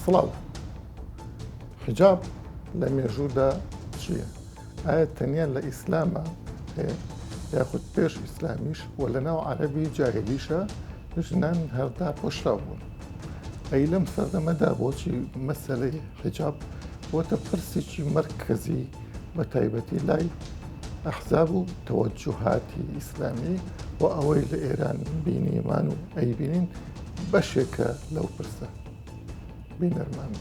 سڵاو حجاب لە مێژوودا چییە؟ ئایا تەنیا لە ئیسلامە هەیە یاخود پێش ئیسلامیش و لە ناو عەربی جاهلیشە ژنان هەردا پۆشرا بوون. ئەی لەم سەردەمەدا بۆچی مەسلەی حجاب بۆتە پرسێکی مرکزی بە تایبەتی لای ئەحزاب و تەوەجوهاتی ئیسلامی و ئەوەی لە ئێران بینیمان و ئەیبینین بەشێکە لەو پرسە بینەرمان.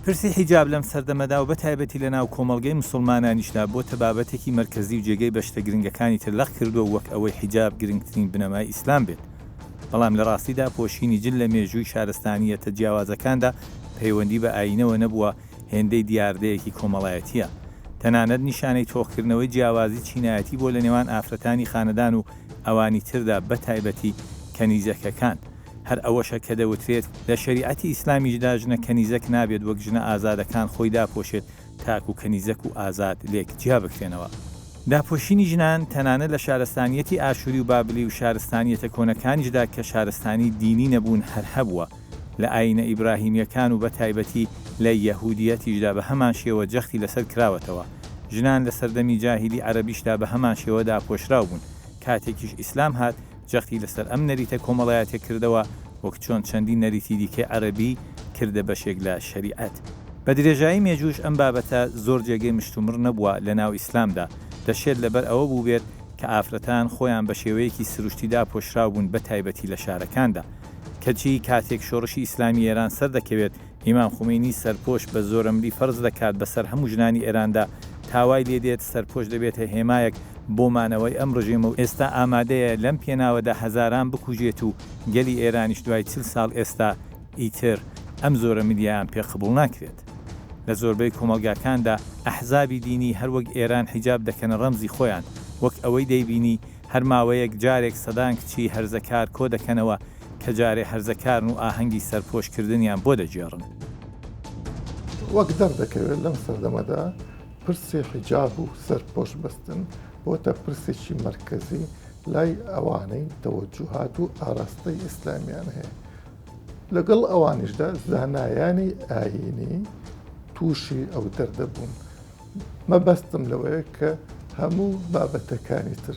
پرسی حیجاب لەم سەردەمەدا و بەتایبەتی لەناو کۆمەڵگەی موسڵمانانیشدا بۆتە بابەتێکی مەرکەزی و جێگەی بەشتە گرنگەکانی تر لەق کردووە و وەک ئەوەی حیجاب گرنگترین بنەمای ئیسلام بێت بەڵام لە ڕاستیدا پۆشینی جل لە مێژووی شارستانییەتە جیاوازەکاندا پەیوەندی بە ئایینەوە نەبووە هێندەی دیاردەیەکی کۆمەڵایەتییە، تەنانەت نیشانەی تۆخکردنەوەی جیاوازی چینایەتی بۆ لە نێوان ئافرەتانی خانەدان و ئەوانی تردا بەتایبەتی کەنیزەکەکان، هەر ئەوەشە کە دەوترێت لە شەریعەتی ئیسلامیشدا ژنە کەنیزەک نابێت وەک ژنە ئازادەکان خۆی داپۆشێت تاکو کەنیزەک و ئازاد لێک جیا بکرێنەوە. داپۆشینی ژنان تەنانەت لە شارستانییەتی ئاشووری و بابلی و شارستانییەتە کۆنەکانیشدا کە شارستانی دینی نەبوون هەر هەبووە، لە ئایینە ئیبراهیمییەکان و بەتایبەتی لە یەهوودییەتیشدا بە هەمان شێوە جەختی لەسەر کراوەتەوە. ژنان لە سەردەمی جاهیلی عەرەبیشدا بە هەمان شێوە داپۆشراو بوون. کاتێکیش ئیسلام هات، جەختی لەسەر ئەم نەریتە کۆمەڵایەتیە کردەوە، وەک چۆن چەندین نەریتی دیکەی عەرەبی کردە بەشێک لە شەریعەت. بە درێژایی مێژووش ئەم بابەتە زۆر جێگەی مشتومڕ نەبووە لە ناو ئیسلامدا. دەشێت لەبەر ئەوە بووبێت کە ئافرەتان خۆیان بە شێوەیەکی سروشتی داپۆشراو بوون بەتایبەتی لە شارەکاندا. کەچی کاتێک شۆڕشی ئیسلامی ئێران سەردەکەوێت، ئیمام خومەینی سەرپۆش بە زۆرەملی فەرز دەکات بەسەر هەموو ژنانی ئێراندا، تا وای لێ دێت سەرپۆش دەبێتە هێمایەک بۆ مانەوەی ئەم ڕژێمە و ئێستا ئامادەیە لەم پێناوەدا هەزاران بکوژێت و گەلی ئێرانیش دوای چل ساڵ ئێستا ئیتر ئەم زۆرەملییەیان پێ قبوڵ ناکرێت. لە زۆربەی کۆمەڵگاکاندا ئەحزابی دینی هەر وەک ئێران حیجاب دەکەنە ڕەمزی خۆیان، وەک ئەوەی دەیبینی هەر ماوەیەک جارێک سەدان کچی هەرزەکار کۆ دەکەنەوە کە جارێ هەرزەکارن و ئاهەنگی سەرپۆش کردنیان بۆ دەگێڕن. وەک دەردەکەوێت لەم سەردەمەدا پرسی حیجاب و سەرپۆش بەستن بۆتە پرسێکی مەرکەزی لای ئەوانەی تەوەجوهات و ئاراستەی ئیسلامیان هەیە. لەگەڵ ئەوانیشدا زانایانی ئایینی تووشی ئەو دەردە بوون. مەبەستم لەوەیە کە هەموو بابەتەکانی تر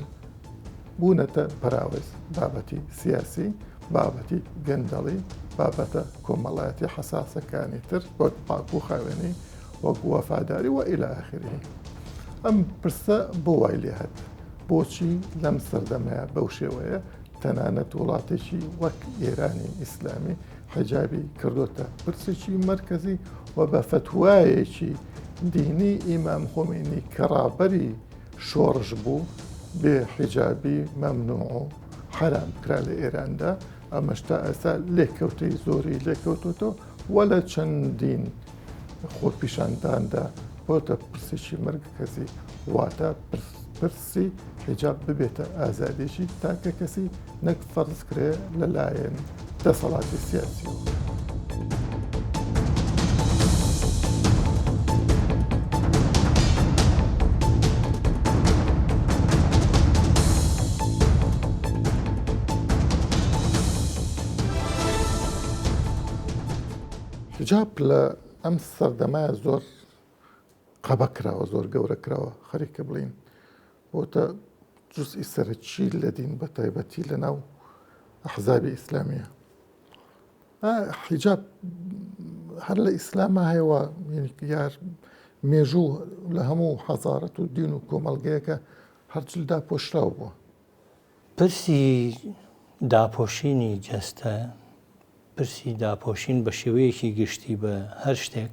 بوونەتە پەراوێز بابەتی سیاسی بابەتی گەندەڵی بابەتە کۆمەڵایەتی حەساسەکانی تر وەک پاک و خاوێنی وەک وەفاداری وە ئیلا ئاخری ئەم پرسە بۆ وای لێ هەت بۆچی لەم سەردەمەیە بەو شێوەیە تەنانەت وڵاتێکی وەک ئێرانی ئیسلامی حەجابی کردوتە پرسێکی مرکزی و بە فتوایەکی دینی ئیمام خۆمینی کە ڕابەری شۆڕش بوو بێ حیجابی مەمنوع و حەرام کرا لە ئێراندا ئەمەش تا ئێستا لێکەوتەی زۆری لێکەوتوتەوە وە لە چەندین خۆپیشانداندا بۆتە پرسێکی مرگ کەسی واتە پرس سێ، حیجاب ببێتە ئازادییەکی تاکەکەسی نەک فەرز کرێ لەلایەن دەسەڵاتی سیاسییەوە. حیجاب لە ئەم سەردەمە زۆر قەبە کراوە زۆر گەورە کراوە خەریکە بڵین بۆتە جزئی سەرەکی لە دین بە تایبەتی لە ناو حزابی ئیسلامیە حیجاب هەر لە ئیسلامە هەیەوە یار مێژوو لە هەموو حەزارەت و دین و کۆمەلگەیەکە هەرچلدا پۆشراو بووە پرسی داپۆشینی جەستە، پرسی داپۆشین بە شێوەیەکی گشتی بە هەر شتێک،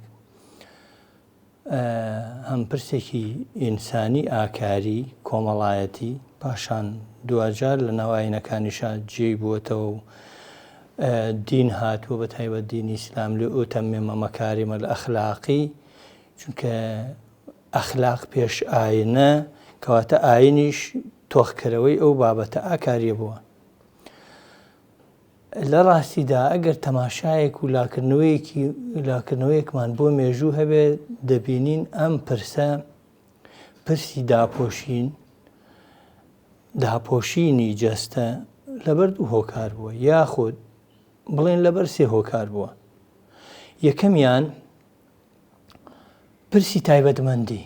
هەم پرسێکی ئینسانی ئاکاری کۆمەڵایەتی پاشان دواجار لە ناو ئاینەکانیشا جێی بووەتەوە و دین هاتووە بە تایبەت دینی ئیسلام لێ ئۆتەمێمە مەکاریمە لە ئەخلاقی چونکە ئەخلاق پێش ئاینە کەواتە ئاینیش تۆخکەرەوەی ئەو بابەتە ئاکاریە بووە. لە ڕاستیدا ئەگەر تەماشایەک و لاکردنەوەیەکی لاکردنەوەیەکمان بۆ مێژوو هەبێ دەبینین ئەم پرسە پرسی داپۆشین داپۆشینی جەستە لەبەر دوو هۆکار بووە یاخود بڵێن لەبەر سێ هۆکار بووە یەکەمیان پرسی تایبەتمەندی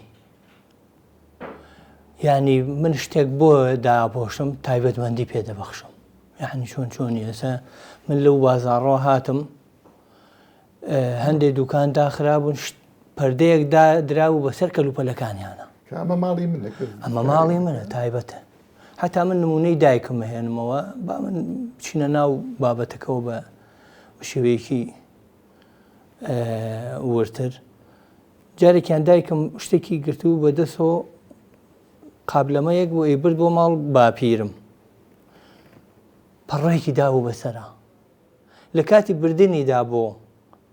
یعنی من شتێک بۆ داپۆشم تایبەتمەندی پێ دەبەخشم یعنی چۆن چۆنی ئێستا من لەو بازارڕۆ هاتم هەندێک دوکان داخرابوون پردەیەک دراو بەسەر کەلوپەلەکانیانە ئەمە ماڵی منە ئەمە ماڵی منە تایبەتە هەتا من نمونەی دایکم هێنمەوە با من چینە ناو بابەتەکەەوە بە شێوەیەکی وردتر جارێکیان دایکم شتێکی گرتوو بە دەسەوە قابلەمەیەک بۆ ئەیبرد بۆ ماڵ باپیرم پەڕێکی دابوو بەسرە لە کاتی بردننیدا بۆ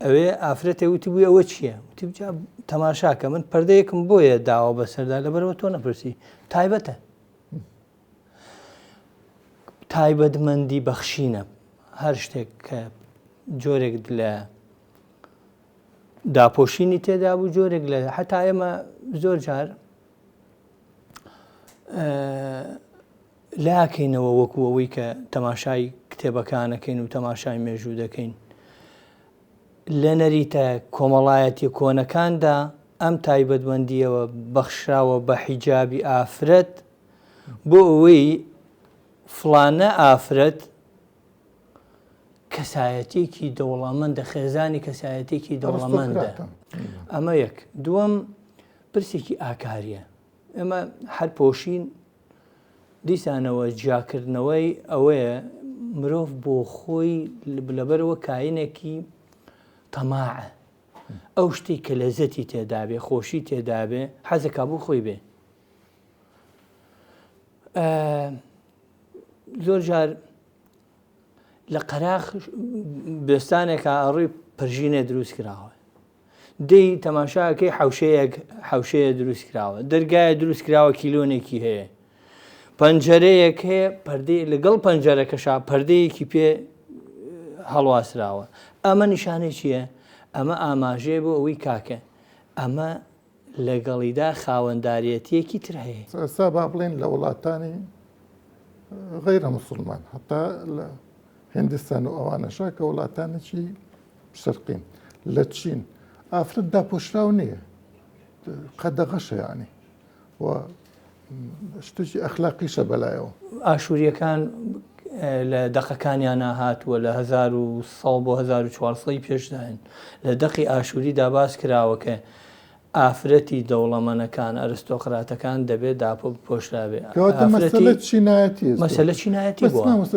ئەوێ ئافرەتێ وتی بووی ئەوە چییە وتیجا تەماشاکە من پردەیەکم بۆیە داوە بەسەردا لەبەرەوە تۆ نەپرسی تایبەتە تایبەتمەندی بەخشینە هەر شتێک کە جۆرێک لە داپۆشینی تێدا بوو جۆرێک لە حتا ئێمە زۆر جار لاکەینەوە وەکو ئەوەی کە تەماشای کتێبەکانەکەین و تەماشای مێژوو دەکەین لە نەریتە کۆمەڵایەتی کۆنەکاندا ئەم تایبەتمەندیەوە بەخشراوە بە حیجابی ئافرەت بۆ ئەوەی فڵانە ئافرەت کەسایەتێکی دەوڵەمەندە خێزانی کەسایەتێکی دەوڵەمەندە ئەمە یەک دووەم پرسێکی ئاکاریە ئێمە هەر پۆشین دیسانەوە جیاکردنەوەی ئەوەیە مرۆڤ بۆ خۆی لەبەرەوە کاینێکی تەماعە ئەو شتی کە لەزەتی تێدابێ خۆشی تێدابێ حەزەکە بۆ خۆی بێ زۆر جار لە قەراخ بێستانێکە ئەڕووی پرژینە دروست کراوە دەی تەماشاکەی حوشەیەک حوشەیە دروست کراوە دەرگایە دروست کراوە کیلۆنێکی هەیە پەنجەرەیەک هەیە پردی لەگەڵ پەنجەرەکەشا پردەیەکی پێ هەڵواسراوە ئەمە نیشانەی چییە؟ ئەمە ئاماژەیە بۆ ئەوەی کاکە ئەمە لەگەڵیدا خاوەنداریەتیەکی تر هەیە. ئێستا با بڵێین لە وڵاتانی غەیرە موسڵمان هەتا لە هندستان و ئەوانەشا کە وڵاتانێکی شەرقین لە چین ئافرەت داپۆشراو نییە قەدەغەشە یانی و شتێکی ئەخلاقیشە بەلایەوە ئاشووریەکان لە دەقەکانیانە هاتووە لە 1970 بۆ 1940 پێشداین لە دەقی ئاشووری داباس کراوەکە ئافرەتی دەوڵەمەنەکان ئەرستۆقراتەکان دەبێت داپۆ پۆشراوێ مەسەلە چینایەتی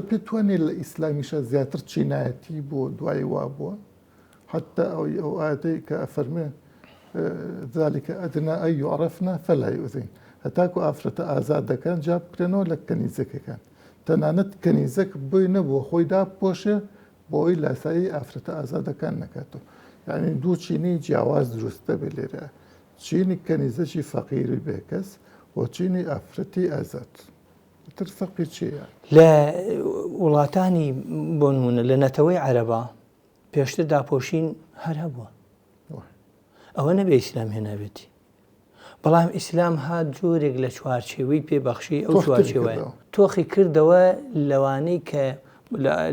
پێ توانێت لە ئیسلامیشە زیاتر چینایەتی بۆ دوای وا بووە حتی ئەوەی ئەو ئایەتەی کە ئەفەرموێ ذلک ادنی ان یعرفن فلا یؤذین هەتاکو ئافرەتە ئازاد دەکەن جا بکرێنەوە لە کەنیزەکەکان تەنانەت کەنیزەک بۆی نەبووە خۆی دابپۆشێ بۆی لاسایی ئافرەتە ئازادەکان نەکاتەوە یعنی دوو چینی جیاواز دروست دەبێت لێرە چینی کەنیزەکی فەقیری بێکەس و چینی ئافرەتی ئازاد تر فەقی چیە لە وڵاتانی بۆنمونە لە نەتەوەی عەرەبا پێشتر داپۆشین هەر هەبووە ئەوە نەبێ ئیسلام هێنابێتی بەڵام ئیسلام ها جۆرێک لە چوارچێوەی پێبەخشی ئەو چوارچێوە تۆخی کردەوە لەوانەی کە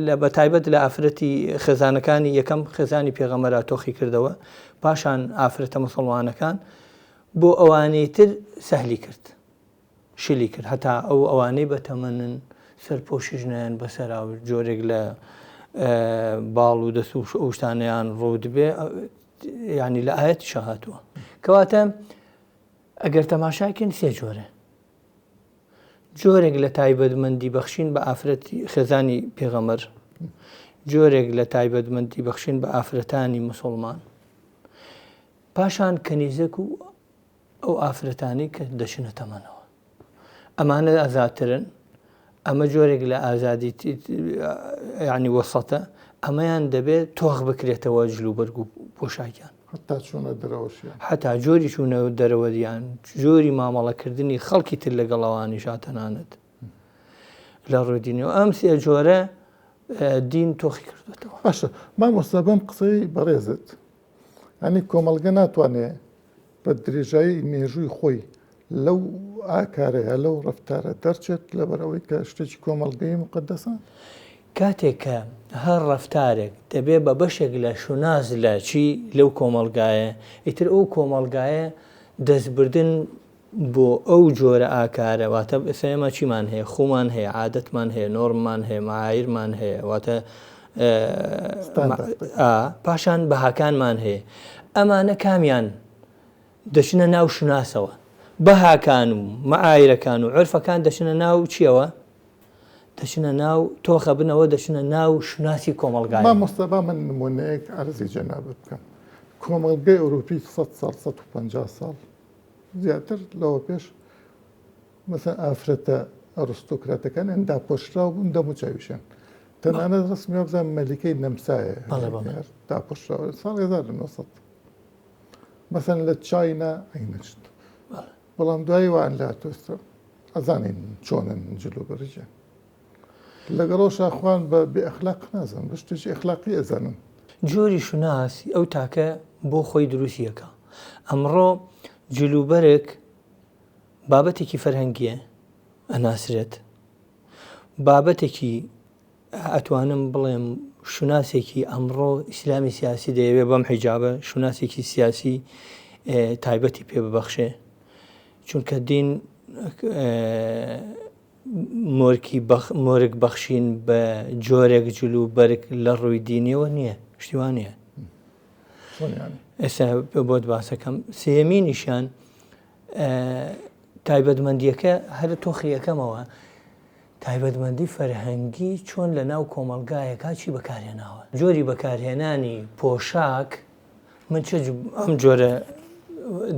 لە بەتایبەت لە ئافرەتی خێزانەکانی یەکەم خێزانی پێغەمەرا تۆخی کردەوە پاشان ئافرەتە مسلمانەکان بۆ ئەوانەی تر سەهلی کرد شلی کرد هەتا ئەو ئەوانەی بەتەمەنن سەرپۆشیش نایەن بەسەرا و جۆرێک لە باڵ و دەست و ئەو شتانیان ڕوودبێ ینی لە ئاەتی شەهاتوە کەواتە ئەگەر تەماشاکەین سێ جۆرە جۆرێک لە تایبەتمەندی بەخشین بە ئافرەتی خێزانی پێغەمەر جۆرێک لە تایبەتمەندی بەخشین بە ئافرەتانی مسلمان پاشان کەنیزەک و ئەو ئافرەتانی کە دەچنە تەمەنەوە ئەمانە ئازاترن ئەمە جۆرێک لە ئازادی ینی وەسەتە ئەمەیان دەبێت تۆخ بکرێتەوە جلو بەرگ و پۆشاکیان حتا چۆنە دەرەوەشیان حتا جۆری چوونە دەرەوەریان جۆری مامەڵەکردنی خەڵکی تر لەگەڵەوانی شاتەنانت لە ڕۆدینەوە ئەم سێ جۆرە دین تۆخی کردێتەوە باشە مامۆستا بەم قسەی بەڕێزت یانی کۆمەڵگە ناتوانێ بە درێژایی مێژووی خۆی لەو ئاکارەیە لەو ڕفتارە دەرچێت لەبەرەوەی کە شتێکی کۆمەڵگەی مقدەسە کاتێک کە هەر ڕفتارێک دەبێ بە بەشێک لە شوناس لە چی لەو کۆمەلگایە ئیتر ئەو کۆمەلگایە دەستبردن بۆ ئەو جۆرە ئاکارە واتە ئێمە چیمان هەیە خوومان هەیە عادەتمان هەیە نۆرممان هەیە مەعایرمان هەیە واتە پاشان بەهاکانمان هەیە ئەمانە کامیان دەچنە ناو شوناسەوە بەهاکان و مەعایرەکان و عرفەکان دەچنە ناو چیەوە دەچنە ناو تۆخە بنەوە دەچنە ناو شوناسی کۆمەلگای مستەبا من نمونەیەک ئەرزی جەنابەت بکەم کۆمەلگەی ئەوروپی 100 سال 150 ساڵ زیاتر لەوە پێش مەسەن ئافرەتە ئەڕستۆکراتەکان ئەن داپۆشراو بوون دەمو چاویشان تەنانەت ڕسمی وابزان مەلیکەی نەمسایە داپۆشراوە ساڵ 1900 مەسەن لە چاینا عینەشت بەڵام دوایی وان لا تۆستە ئەزانین چۆنن جلو بەرجە لەگەڵ ئەوشا خوان بە بێ ئەخلاق نازانم بە شتێکی ئەخلاقی ئەزانم. جۆری شوناس ئەو تاکە بۆ خۆی دروستی ئەکا ئەمڕۆ جل و بەرگ بابەتێکی فەرهەنگیە ئەناسرێت بابەتێکی ئەتوانم بڵێم شوناسێکی ئەمڕۆ ئیسلامی سیاسی دەیەوێ بەم حیجابە شوناسێکی سیاسی تایبەتی پێ ببەخشێ چونکە دین مۆرکی بەخ مۆرک بەخشین بە جۆرێک جل و بەرگ لە ڕووی دینیەوە نییە شتی وا نییە چۆن یانی ئێستا بۆت باسەکەم سێمینیشان تایبەتمەندیەکە هەر تۆخی یەکەمەوە تایبەتمەندی فەرهەنگی چۆن لە ناو کۆمەلگایەکە چی بەکارهێناوە جۆری بەکارهێنانی پۆشاک من چ ئەم جۆرە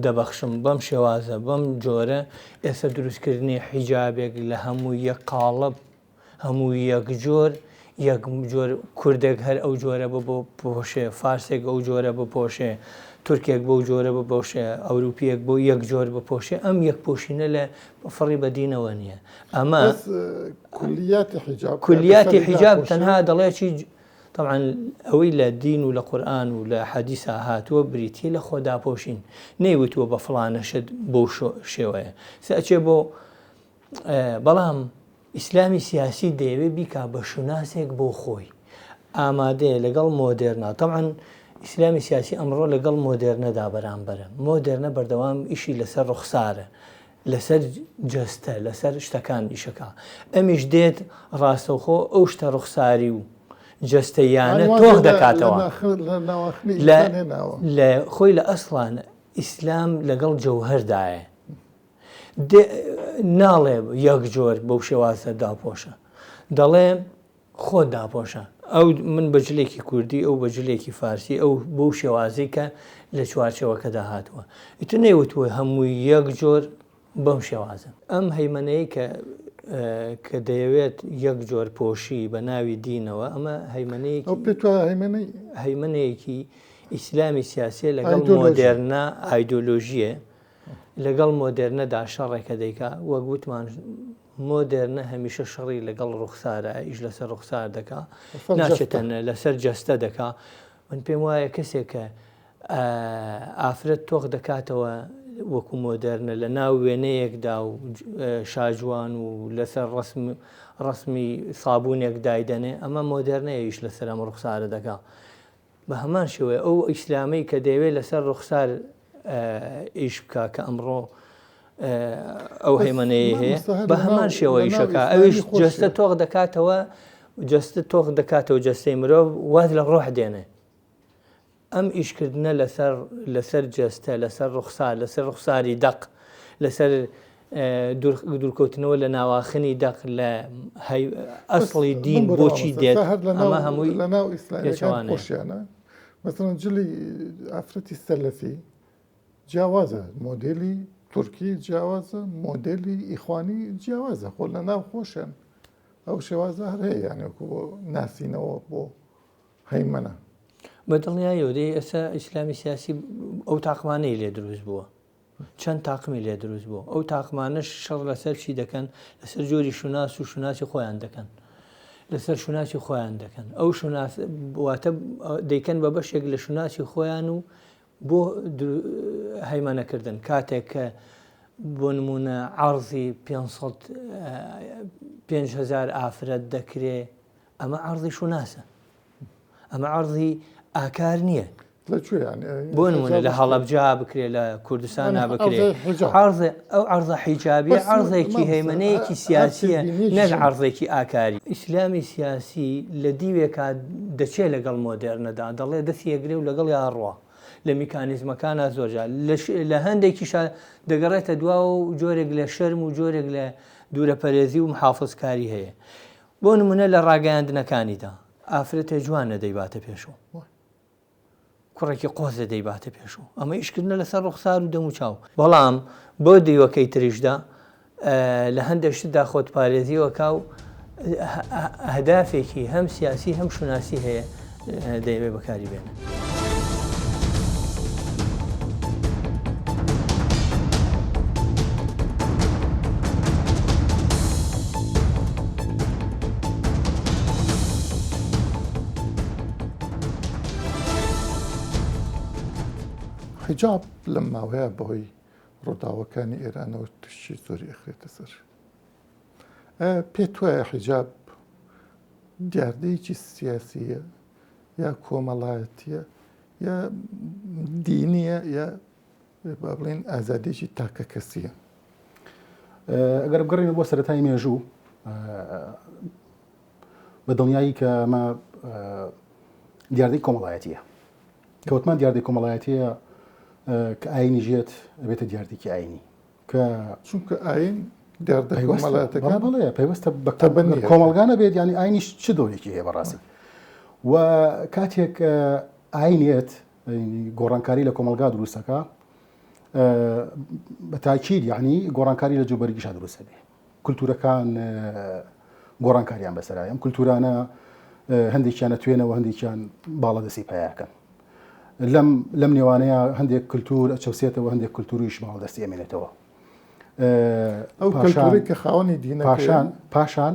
دەبەخشم بەم شێوازە بەم جۆرە ئێستا دروستکردنی حیجابێک لە هەموو یەک قاڵب هەموو یەک جۆر یەک جۆر کوردێک هەر ئەو جۆرە بە بۆ پۆشێ فارسێک ئەو جۆرە بپۆشێ تورکێک بەو جۆرە بپۆشێ ئەوروپیەک بۆ یەک جۆر بپۆشێ ئەم یەک پۆشینە لە فڕی بەدینەوە نییە ئەمە کولیاتی حیجاب تەنها دەڵێکی تەبعەن ئەوەی لە دین و لە قورئان و لە حەدیسا هاتووە بریتییە لە خۆداپۆشین، نەیوتووە بە فڵانە شت بەو شێوەیە سە ئەچێ بۆ بەڵام ئیسلامی سیاسی دەیەوێ بیکا بە شوناسێک بۆ خۆی ئامادەیە لەگەڵ مۆدێرنا تەبعەن ئیسلامی سیاسی ئەمڕۆ لەگەڵ مۆدێرنەدا بەرامبەرە مۆدێرنە بەردەوام ئیشی لەسەر ڕوخسارە لەسەر جەستە لەسەر شتەکان ئیشەکا ئەمیش دێت ڕاستەوخۆ ئەو شتە ڕوخساری و جەستەیانە تۆخ دەکاتەوە لە خۆی لە ئەسڵان ئیسلام لەگەڵ جەوهردایە ناڵێ یەک جۆر بەو شێوازە داپۆشە دەڵێ خۆت داپۆشە. ئەو من بە جلێکی کوردی، ئەو بە جلێکی فارسی، ئەو بەو شێوازەی کە لە چوارچێوەکەدا هاتووە. ئیتر نەیوتووە هەمووی یەک جۆر بەم شێوازەن. ئەم هەیمەنەیەی کە کە دەیەوێت یەک جۆر پۆشی بە ناوی دینەوە، ئەمە هەیمەنەیەکی. ئەو پێت وایە هەیمەنەی. هەیمەنەیەکی ئیسلامی سیاسییە لەگەڵ مۆدێرنە ئایدۆلۆژییە. لەگەڵ مۆدێرنەدا شەڕێکە دەیکا، وەک وتمان مۆدێرنە هەمیشە شەڕی لەگەڵ ڕوخسارە، ئیش لەسەر ڕوخسار دەکا، ناچێتە لەسەر جەستە دەکا، من پێم وایە کەسێک کە ئافرەت تۆخ دەکاتەوە وەکو مۆدێرنە لە ناو وێنەیەکدا و شاجوان و لەسەر ڕسم ڕسمی سابوونێک دایدەنێ ئەمە مۆدێرنەیەویش لەسەر ئەم ڕوخسارە دەکا بە هەمان شێوەیە ئەو ئیسلامەی کە دەیەوێت لەسەر ڕوخسار ئیش بکە کە ئەمڕۆ ئەو هەیمەەیە هەیە بە هەمان شێوەی شەکە ئەوش جستە تۆخ دەکاتەوە جستە تۆخ دەکاتەوە جستەی مرۆڤ واز لە ڕۆح دێنێ ئەم ئیشکردنە لەسەر لەسەر جستە لەسەر ڕوخسار لەسەر ڕوخساری دەق لەسەر دوورکەوتنەوە لە ناواخنی دەق لە ئەسڵی دین بۆچی دێت ئەمە هەمووی لە ناو ئیسلامیەکان خۆشیانە مەسەڵەن جلی ئافرەتی سەلەفی جیاوازە مۆدلی تورکی جیاوازە مۆدلی ئیخوانی جیاوازە خۆ لە ناو خۆشیان ئەو شێوازە هەر هەیە یانێکو بۆ ناسینەوە بۆ هەیمەە بە دڵنیایەوە دەی ئێستا ئیسلامی سیاسی ئەو تاقمانەی لێ دروست بووە چەند تاقمی لێ دروست بوو ئەو تاقمانەش شەڕ لەسەر چی دەکەن لەسەر جۆری شوناس و شوناسی خۆیان دەکەن لەسەر شوناسی خۆیان دەکەن ئەو شوناس واتە دەیکەن بە بەشێک لە شوناسی خۆیان و بۆ هەیمانەکردن کاتێک کە بۆ نمونە عرضی 500هزار ئافرەت دەکرێ ئەمە عرضی شوناسە ئەمە عرضی ئاکار نییە بۆ نمونە لە هەڵەبجا بکرێ لە کوردستان نابکرێت ئەو عرضە حیجابی عرضێکی هەیمنەیەکی سیاسیە نەک عرضێکی ئاکاری ئیسلامی سیاسی لە دیوێکا دەچێت لەگەڵ مۆدێرنەدا دەڵێ دەست یەگرێ و لەگەڵ یاڕوە لە میکانیزمەکانە زۆرجار لە هەندێکی دەگەڕێتە دوا و جۆرێک لە شەرم و جۆرێک لە دوورەپەرێزی و محافزکاری هەیە بۆ نمونە لە ڕاگەیاندنەکانیدا ئافرەتێ جوانە دەیباتە پێشەوە کوڕێکی قۆزە دەیباتە پێشەوە ئەمە ئیشکردە لەسەر ڕوخسار و دەمو چاو بەڵام بۆ دیوەکەی تریشدا لە هەندێکشتدا خۆت پارێزیوەکە و هەدافێکی هەم سیاسی هەم شوناسی هەیە دەیەوێت بەکاری بێنن. حیجاب لەم ماوەیە بەهۆی ڕووداوەکانی ئێرانەوە تووشی زۆری ئەخرێتە سەر. پێت وایە حیجاب دیاردەیەکی سیاسیە یا کۆمەڵایەتە یا دینیە یا با بڵێن ئازادێکی تاکە کەسیە ئەگەر بگەڕێنە بۆ سەرەتای مێژوو بە دڵنیایی کە ئەمە دیاردەی کۆمەڵایەتیە کەوتمان دیاردەی کۆمەڵایەتەیە کە ئاینی ژێت بێتە دیاردێکی ئاینی کە چونکە ئاین دیاردە کۆمەڵاتەکان بڵێ پێوەستە بە کۆمەڵگا نەبێت ینی ئاینیش چ دۆنێکی هەیە بەڕاستی و کاتێک ئاینێت گۆڕانکاری لە کۆمەلگا دروستەکە بە تاکیید یعنی گۆڕانکاری لە جوبەرگیشا دروستە بێ کولتوورەکان گۆڕانکاریان بەسەرایە، ئەم کولتوورانە هەندێکیان ئەتوێنەوە هەندێکیان باڵادەستی پایاکەن. لەم لەم نێوانەیە هەندێک کللتور ئەچەوسێتەوە هەندێک کللتوریش باڵ دەستی ئەمێنێتەوە ئەو کە خاوەنی دینەکان پاشان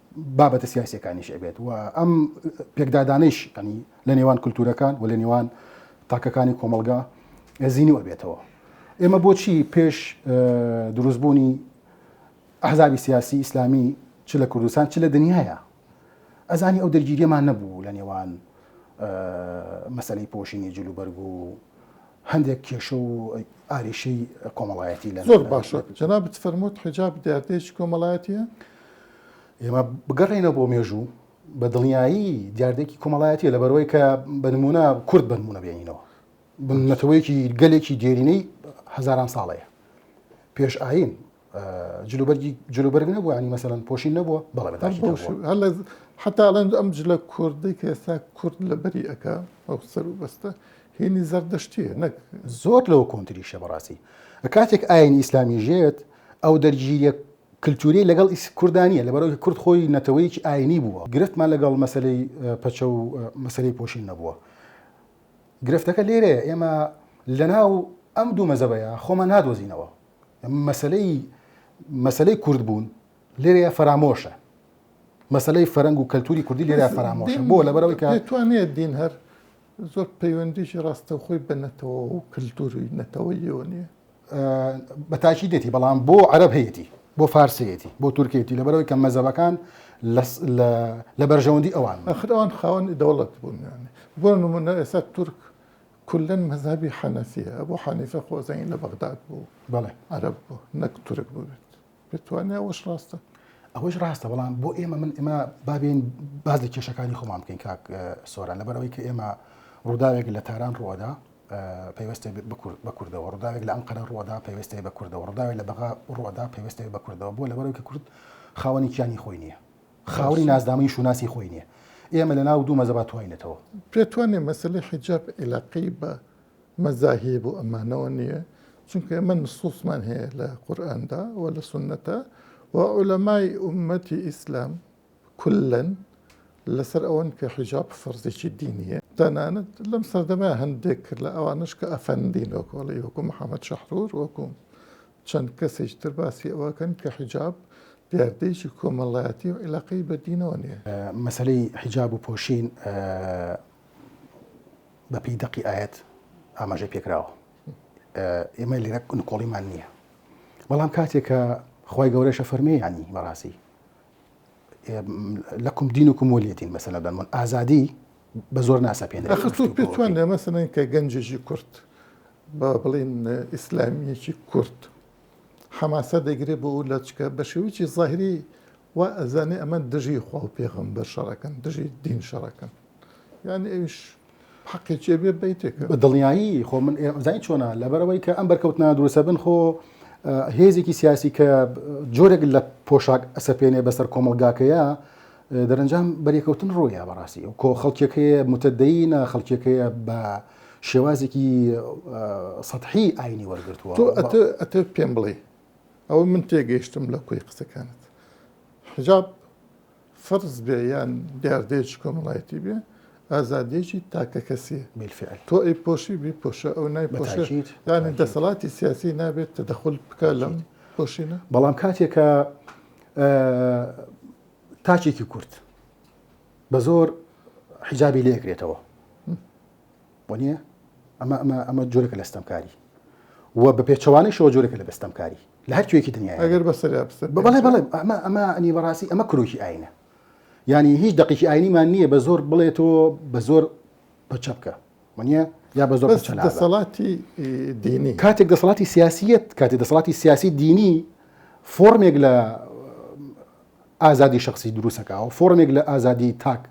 بابەتە سیاسیەکانیش ئەبێت و ئەم پێکدادانەیش ینی لە نێوان کللتورەکان و لە نێوان تاکەکانی کۆمەلگا زیینی وەبێتەوە ئێمە بۆچی پێش دروستبوونی ئەحزابی سیاسی ئیسلامی چ لە کوردستان چ لە دنیاە ئەزانی ئەو دەرگیریەمان نەبوو لە نێوان مەسلەی پۆشینی جلوبەرگ و هەندێک کێشە و ئاریشەی کۆمەڵایەتی لە زۆر باشە جەنابت فەرمووت حجاب دیاردەیەکی کۆمەڵایەتیە ئێمە بگەڕێنە بۆ مێژوو بە دڵنیایی دیاردێکی کۆمەڵایەتی لە بەرەوەی کە بنمونە کورد بنمونە بێنینەوە بنەتەوەیەکی گەلێکی دێرینەی هزاران ساڵەیە پێش ئاین جلوبەرگی جلوبەرگ نەبوو ینی مەسەن پۆشین نەبووە بەڵێ حتا ئەڵێن ئەم جلە کوردی کە ئێستا کورد لە بەری ئەک ئەو سەر و بەستە هینی زەردەشتیە نەک زۆر لەوە کۆنتریشە بەڕاستی کاتێک ئاینی ئیسلامی ژێت ئەو دەرگیریە کللتوری لەگەڵ کوردانە لە بەرەوەی کورد خۆی نەتەوەیەکی ئاینی بووە گرفتمان لەگەڵ مەسلەی پەچە و مەسلەی پۆشین نەبووە گرفتەکە لێرەیە ئێمە لەناو ئەم دوو مەزەبەیە خۆمان نادۆزینەوە مەسلەی مەسلەی کورد بوون لێرەیە فەرامۆشە مەسلەی فەرەنگ و کەلتوری کوردی لێرە فەرامۆشە بۆ لە بەرەوەی کە توانێت دین هەر زۆر پەیوەندیشی ڕاستە خۆی بنەتەوە و کللتوری نەتەوەیەوە نیە بەتاکی دێتی بەڵام بۆ عەرب هەیەی بۆ فارسەتی بۆ تورکێتی لە بەرەوەی کە مەزەبەکان لە بەرژەوەندی ئەوان ئەخرەوان خاوەنی دەوڵەت بوون بۆ نمونە ئێستا تورک کولەن مەزهەبی حەنەفیە ئەبو حەنیفە خۆزەی لە بەغداد بوو بەڵێ عەرەب بوو نەک تورک بووبێت پێتوانێ ئەوەش ڕاستە ئەوەش ڕاستە بەڵام بۆ ئێمە من ئێمە بابێن باز لە کێشەکانی خۆمان بکەین کاک سۆران لەبەرەوەی کە ئێمە ڕووداوێک لە تاران ڕوەدا پێوەستی بە کوردەوە ڕداوێک لە ئەم قەرە ڕوەدا پێوەستی بە کوردەوە ڕداوێت لە بەغا ڕوەدا پێوەستی بە کوردەوە بۆ لەبەرەوە کە کورد خاوەنی کیانی خۆی نییە خاوەنی ناسنامەی شوناسی خۆی نیە ئێمە لە ناو دوو مەزەبا تواینەتەوە. پێت وانیە مەسەلەی حیجاب عیلاقەی بە مەزاهیە بۆ ئەمانەوە نیە چونکە ئێمە نسوسمان هەیە لە قورئاندا و لە سونەتا و عولەمای ئومەتی ئیسلام کولەن لەسەر ئەوەن کە حیجاب فەرزێکی دینیە تەنانەت لەم سەردەمە هەندێک کرد لە ئەوانەش کە ئەفەندین وەکۆڵی وەکو محەمەد شەحرور وەکو چەند کەسێکی تر باسی ئەوەکەن کە حیجاب دیاردەیەکی کۆمەڵایەتی و عیلاقەی بە دینەوە نیە. مەسەلەی حیجاب و پۆشین بە پێی دەقی ئایەت ئاماژەی پێکراوە. ئێمە لێرە نکۆڵیمان نییە. بەڵام کاتێکە خی گەورەشە فەرمی ینی بەڕاستی لەکم دین وکم وەلیەتین بەسەلەدەن من ئازادی بە زۆر ناسەپێنێت ئەخر تۆ پێت وایە لە مەسەلەن کە گەنجێکی کورد با بڵێن ئیسلامیەکی کورد حەماسە دەگرێت بۆ لە چکە بە شێوکی ظاهری وا ئەزانێ ئەمە دژی خوا و پێغم بەر شەڕەکەن دژی دین شەڕەکەن یعنی ئەوش حەقێکێ بێ بیتێک بە دڵنیایی خۆ من زای چۆنا لەبەرەوەی کە ئەم بەرکەوتنا دروسە بن خۆ هێزێکی سیاسی کە جۆرێک لە پۆشاک ئەسەپێنێ بەسەر کۆمەلگاکەیە دەرەنجام بەرێکەوتن ڕۆیە بەڕاستی و کۆ خەڵکێک هەیە متدەینە خەڵکێک هەیە بە شێوازێکی سەحی ئاینی وەرگتووە تۆ ئەتە پێم بڵێ ئەوە من تێگەیشتم لە کۆی قسەکانت حجاب فەرز بێ یان دیاردەیەکی کۆمەڵایەتی بێ ئازادیەکی تاکە کەسی میلفعل تۆ ئەی پۆشی بی پۆشە ئەو نای پۆشیت یانی دەسەڵاتی سیاسی نابێت تەدەخل بکە لەم پۆشینە بەڵام کاتێکە تاکێکی کورد بە زۆر حیجابی لێ کرێتەوە بۆ نییە ئەمە ئەمە ئەمە جۆرەکە لە ستەمکاری و بە پێچوانەی شەوە جۆرەکە لە بەستەمکاری لە هەر کوێکی دنیا ئەگەر بەسەر بەڵێ بڵێ ئەمە ئەمە ئەنی بەڕاستی ئەمە کرۆکی ئاینە ینی هیچ دقیقی ئاینیمان نییە بە زۆر بڵێتەوە بە زۆر بە چەپکە وە یا بە زۆر دەسەڵاتی دینی کاتێک دەسەڵاتی سیاسیت کاتی دەسەڵاتی سیاسی دینی فۆرمێک لە ئازادی شخصی دروستەکە و فۆرمێک لە ئازادی تاک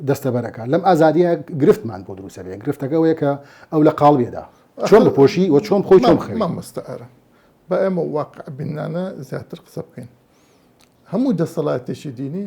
دەستەبەرەکە لەم ئازادیە گرفتمان بۆ دروستە بێ گرفتەکە وەیە کە ئەو لە قاڵبێدا چۆن بپۆشی و چۆن خۆی چۆن خەوی مەمەستەرە بە ئێمە واقع بینانە زیاتر قسە بکەین هەموو دەسەڵاتێکی دینی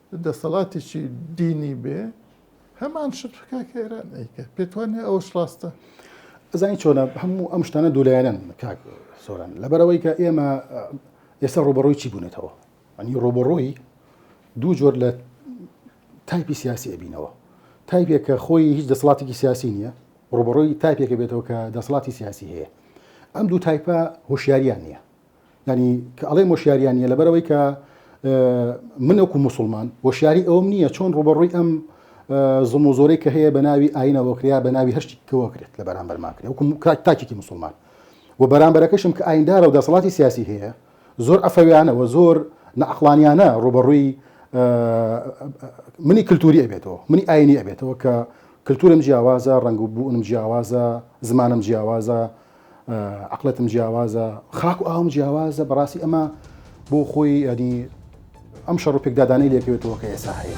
دەسەڵاتێکی دینی بێ هەمان شت بکا کە ئێران ئەیکە پێت وانە ئەوەش ڕاستە ئەزانی چۆنە هەموو ئەم شتانە دوولایەنن کاک سۆران لەبەرەوەی کە ئێمە ئێستا ڕوبەڕووی چی بوونەتەوە ئەنی ڕوبەڕووی دوو جۆر لە تایپی سیاسی ئەبینەوە تایپێک کە خۆی هیچ دەسڵاتێکی سیاسی نییە ڕوبەڕووی تایپێکە بێتەوە کە دەسڵاتی سیاسی هەیە ئەم دوو تایپە هۆشیاریان نییە یانی کە ئەڵێم وەشیاریان نیە لەبەرەوەی کە من وەکو مسلمان وەشیاری ئەوم نییە چۆن ڕوبەڕووی ئەم زم و زۆرەی کە هەیە بە ناوی ئاینەوەکریا بە ناوی هەشتی کەوەکرێت لە بەرامبەر ماکرێ وکم تاکێکی مسلمان و بەرامبەرەکەشم کە ئایندارە و دەسەڵاتی سیاسی هەیە زۆر ئەفەویانەوە زۆر نەعقلانیانە ڕوبەڕووی منی کللتوری ئەبێتەوە منی ئاینی ئەبێتەوە کە کللتورم جیاوازە ڕنگ و بوونم جیاوازە زمانم جیاوازە عەقڵێتم جیاوازە خاک و ئاوم جیاوازە بەڕاستی ئەمە بۆ خۆی ئەنی ئەم شەڕ و پێکدادانەی لێکەوێتەوە کە ئێسا هەیە.